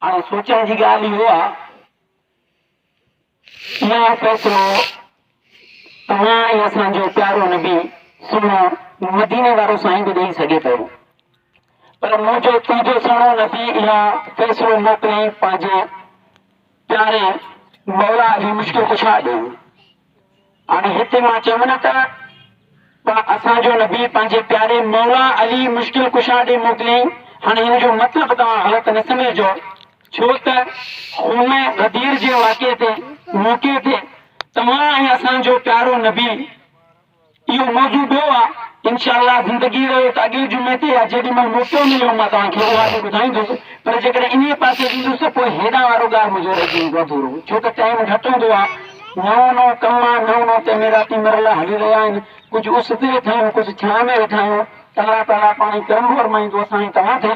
هاڻي سوچڻ جي ڳالهه اهو آ اها فيصلو توهان ۽ اسان جو پيارو نبي سهڻو مديني وارو سائين به ڏئي سگهي پيو پر منهنجو تنهنجو سهڻو نبي اها فيصلو موڪلي پنهنجي پياري مولا علي مشڪل ڪشا ڏي هاڻي هتي مان چيم نه ته پڻ اسان جو نبي پنهنجي پياري مولا علي مشڪل ڪشا ڏي موڪليائين. هاڻي هن جو مطلب توهان غلط نه سمجهجو ڇو ته خون غدير جي واقعي تي، موقعي تي، توهان ۽ اسان جو پيارو نبي، اهو موضوع ٻيو آ انشاء الله زندگي رهي ته اڳئين جمعي تي يا جيڏي مهل موقعو مليو مان توهان کي اها به ٻڌائيندس پر جيڪڏهن انهيء پاسي ويندس ته پوء هيڏانهن وارو ڳاهه منهنجو رهجي ويندو اڌورو ڇو ته ٽائيم گهٽ هوندو آ نئون نئون ڪم آ نئون نئون تعميراتي مرحلا هلي رهيا آهن ڪجهه اس تي ويٺا آهيون ڪجهه ڇانء ۾ ويٺا آهيون الله تعاليٰ پاڻهي ڪرم ورمائيندو اسان ۽ توهان تي.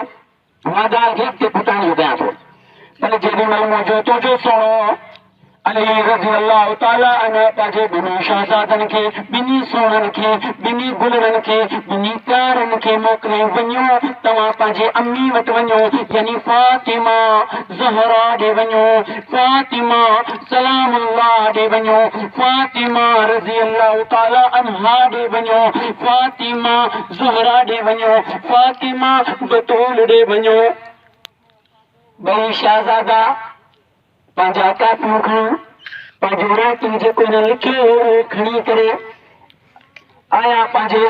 مان ڳالهه کي اڳتي پھچائڻ جو ڪيان ٿو ته جيڏي مھل منھنجو توجو سھڻو علي رضي الله تعالٰي عنه پنھنجي ٻنھي شھزادن کي، ٻنھي سونھن کي، ٻنھي گلڙن کي، ٻنھي پيارن کي موڪلي وڃو توھان پنھنجي امي وٽ وڃو يعني فاطمه زهرا ڏي وڃو، فاطمه سلام الله ڏي وڃو، فاطمه رضي الله تعالٰي عنها ڏي وڃو، فاطمه. زهرا ڏي وڃو، فاطمه بتول ڏي وڃو. ٻئي شهزادا پنهنجا ڪاپيون کڻي، پنهنجون رايتون جيڪو هنن لکيو هو اهو کڻي ڪري آيا پنهنجي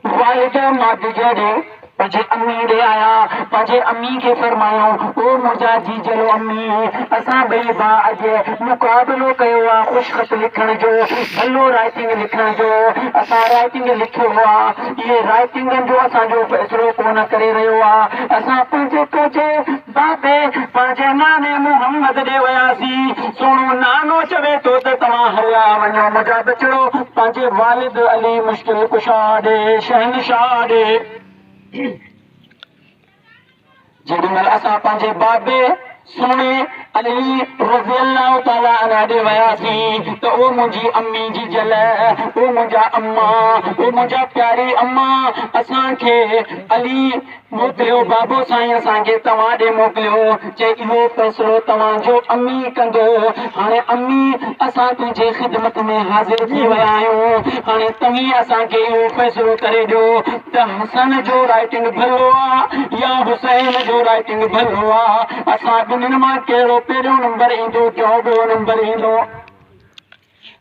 والد مادجا ڏي، پنهنجي امي ڏي آيا. پنهنجي امي کي فرمايو، او منهنجا جيجلو امي، اسان ٻئي ڀاء اڄ مقابلو ڪيو آ خوشخط لکڻ جو، ڀلو رايتين لکڻ جو. اسان رايتين. رائٽنگ لکيو آ اهي رائٽنگن جو اسان جو فيصلو ڪونه ڪري رهيو آ اسان پنهنجي پوجي بابي پنهنجي ناني محمد ڏي وياسين سهڻو نانو چوي ٿو ته توهان هليا وڃو منهنجا ٻچڙو پنهنجي والد علي مشڪل ڪشا ڏي شهنشاهه ڏي جيڏي مھل اسان پنھنجي بابي سھڻي علي رضي الله تعالٰي عنه ڏي وياسين ته او منھنجي امي جي جل، او منھنجا اما، او منھنجا پياري اما اسان کي علي موڪليو، بابو سائين اسان کي توھان ڏي موڪليو. چي اهو فيصلو توهان جو امي ڪندو. هاڻي امي اسان تنهنجي خدمت ۾ حاضر ٿي ويا آهيون. هاڻي توهين اسان کي اهو فيصلو ڪري ڏيو ته حسن جو رائٽنگ ڀلو آ يا حسين جو رائٽنگ ڀلو آ. اسان ٻنهين مان ڪهڙو پهريون نمبر ايندو ٽيون ٻيو نمبر ايندو.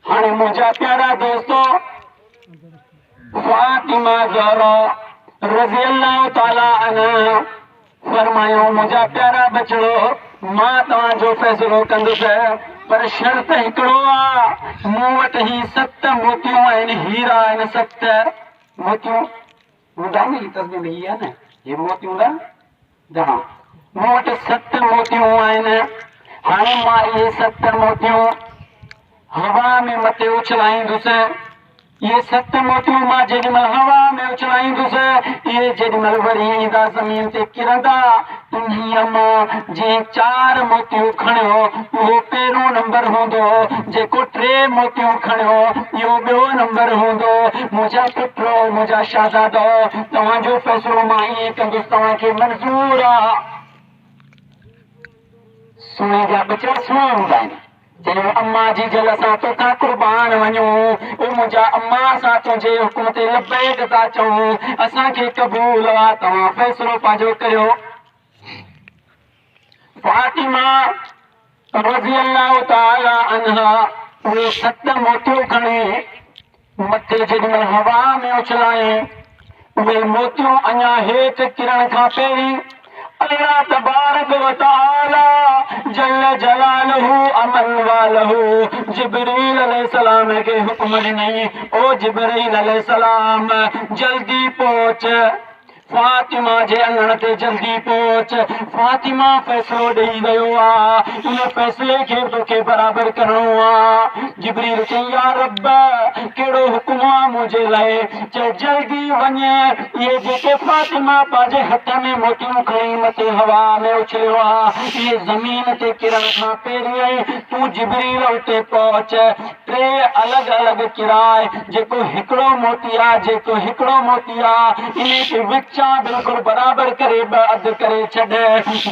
هاڻي منهنجا پيارا دوستو فاطمه زهرا رضي الله تعالي عنها فرمايو منهنجا پيارا بچڙو مان توهان جو فيصلو ڪندس پر شرط هڪڙو آ مون وٽ هي ست موتيون آهن هيرا آهن ست موتيون هوندا نه هي تسبيح ۾ هي آهي نه هي موتيون هوندا جناب، مون وٽ ست موتيون آهن. هاڻي مان اهي ست موتيون هوا ۾ مٿي اڇلائيندس. اهي ست موتيون مان جيڏي مهل هوا ۾ اڇلائيندس، اهي جيڏي مهل وري ايندا زمين تي ڪرندا. انهيء مان جنهن چار موتيون کڻيو، اهو پهريون نمبر هوندو. جيڪو ٽي موتيون کڻيو، اهو ٻيو نمبر هوندو. منهنجا پٽ، منهنجا شهزادؤ! توهان جو فيصلو مان ائين ڪندس توهان کي منظور آ. سوئي جا ٻچڙ سوئي هوندا آهن. چيو امان جي جل اسان توکان قربان وڃون. او منهنجا امان اسان تنهنجي حڪم تي لبيڪ ٿا چئون. اسان کي قبول آ. توهان فيصلو پنهنجو ڪريو. فاطمه رضي الله تعالٰي عنها اهي ست موتيون کڻي مٿي جيڏي مهل هوا ۾ اڇلايائين، اهي موتيون اڃا هيٺ ڪرڻ کان پهرين الله تبارڪ و تعالٰي جل جلاله امن واله جبريل عليه السلام کي حڪم ڏنائين، او جبريل عليه السلام جلدي پهچ! فاطمه جي اڱڻ تي جلدي پهچ. فاطمه فيصلو ڏيئي ويو آ. ان فيصلي کي به توکي برابر ڪرڻو آ. جبريل چيائين، يا رب! ڪهڙو حڪم آ منهنجي لاء؟ چي جلدي وڃ. اهي جيڪي فاطمه پنهنجي هٿ ۾ موتيون کڻي مٿي هوا ۾ اڇليو آ، اهي زمين تي ڪرڻ کان پهريائين تون جبريل اتي پهچ. ٽي الڳ الڳ ڪراء جيڪو هڪڙو موتي آ جيڪو هڪڙو موتي آ انهي کي وچان بلڪل برابر ڪري ٻه اڌ ڪري ڇڏ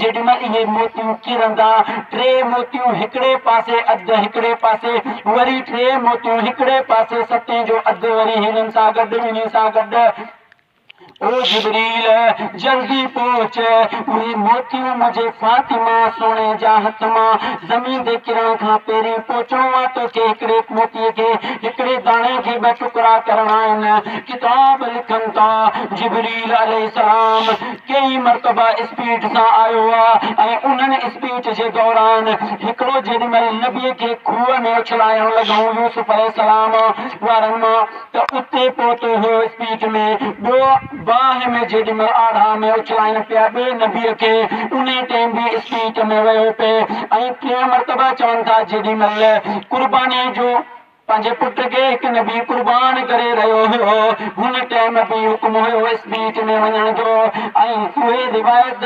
جيڏيمهل اهي موتيون ڪرندا ٽي موتيون هڪڙي پاسي اڌ هڪڙي پاسي وري ٽي موتيون هڪڙي پاسي ستين جو اڌ وري هنن سان گڏ ٻنهي سان گڏ او جبريل! جلدي پهچ، اهي موتيون منهنجي فاطمه سهڻي جا هٿ مان زمين تي ڪرڻ کان پهرين پهچڻو آ، توکي هڪڙي موتيء کي، هڪڙي داڻي کي ٻه ٽڪرا ڪرڻا آهن. ڪتاب لکن ٿا، جبريل عليه السلام ڪيئي مرتبا اسپيٽ سان آيو آ ۽ انهن اسپيٽ جي دوران هڪڙو جيڏي مهل نبيء کي کوهه ۾ اڇلايڻ لڳائون يوسف عليه السلام وارن مان ته اتي پهتو هيو اسپيٽ ۾ ٻيو باهه ۾ جيڏيمهل آڙها ۾ اڇلائين پيا ٻئي نبيء کي انهي ٽيم به اسپيٽ ۾ ويو پئي ۽ ٽيهه مرتبه چون ٿا جيڏيمهل قرباني جو پنهنجي پٽ کي هڪ نبي قربان ڪري رهيو هيو هن ٽيم به حڪم هيو اسپيٽ ۾ وڃڻ جو ۽ اهي روايت